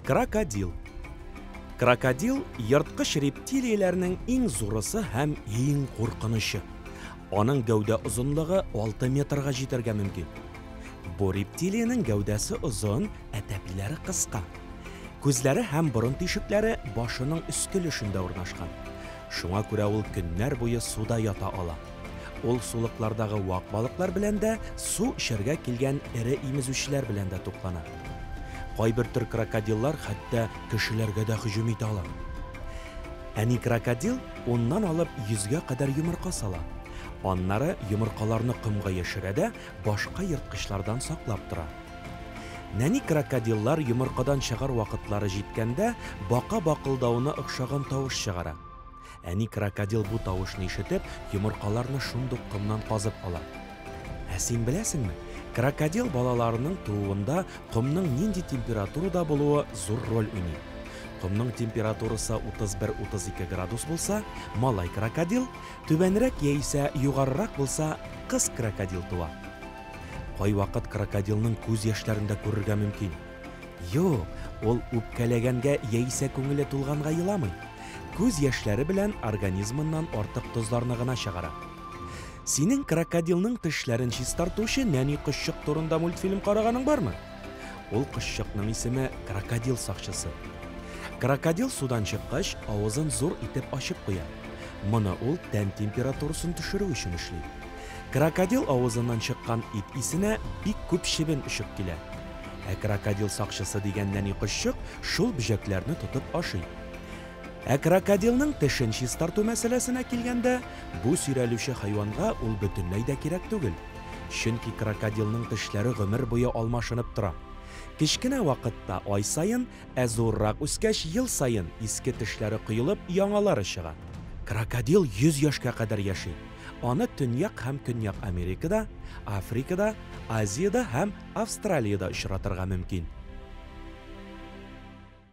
Крокодил. Крокодил ерткыч рептилияләрнең иң зурысы һәм иң куркынычы. Аның гәүдә озынлыгы 6 метрга җитәргә мөмкин. Бу рептилиянең гәүдәсе озын, ә тәпиләре кыска. Күзләре һәм борын тишекләре башының өске өлешендә урнашкан. Шуңа күрә ул көннәр буе суда ята ала. Ул сулыклардагы вак балыклар белән дә, су эчәргә килгән эре имезүчеләр белән дә туклана. Кайбер төр крокодиллар хәтта кешеләргә дә һөҗүм итә ала. Әни крокодил уннан алып йөзгә кадәр йомырка сала. Аннары йомыркаларны комга яшерә дә, башка ерткычлардан саклап тора. Нәни крокодиллар йомыркадан чыгар вакытлары җиткәндә бака бакылдавына охшаган тавыш чыгара. Әни крокодил бу тавышны ишетеп, йомыркаларны шундук комнан казып ала. Ә син беләсеңме, крокодил балаларының тууында комның нинди температурада булуы зур роль уйный? Комның температурасы 31-32 градус булса, малай крокодил, Түбәнрәк яисә югарырак булса, кыз крокодил туа. Кайвакыт крокодилның күз яшьләрен дә күрергә мөмкин. Юк, ул үпкәләгәнгә яисә күңеле тулганга еламый. Күз яшьләре белән организмыннан артык тозларны гына чыгара. Синең крокодилның тешләрен чистартучы нәни кошчык турында мультфильм караганың бармы? Ул кошчыкның исеме крокодил сакчысы. Крокодил судан чыккач, авызын зур итеп ачып куя. Моны ул тән температурасын төшерү өчен эшли. Крокодил авызыннан чыккан ит исенә бик күп чебен очып килә. Ә крокодил сакчысы дигән нәни кошчык шул бөҗәкләрне тотып ашый. Ә крокодилның тешен чистарту мәсьәләсенә килгәндә, бу сөйрәлүче хайванга ул бөтенләй дә кирәк түгел. Чөнки крокодилның тешләре гомер буе алмашынып тора. Кечкенә вакытта, ай саен, ә зуррак үскәч, ел саен иске тешләре коелып, яңалары чыга. Крокодил 100 яшькә кадәр яши. Аны Төньяк һәм Көньяк Америкада, Африкада, Азиядә һәм Австралиядә очратырга мөмкин.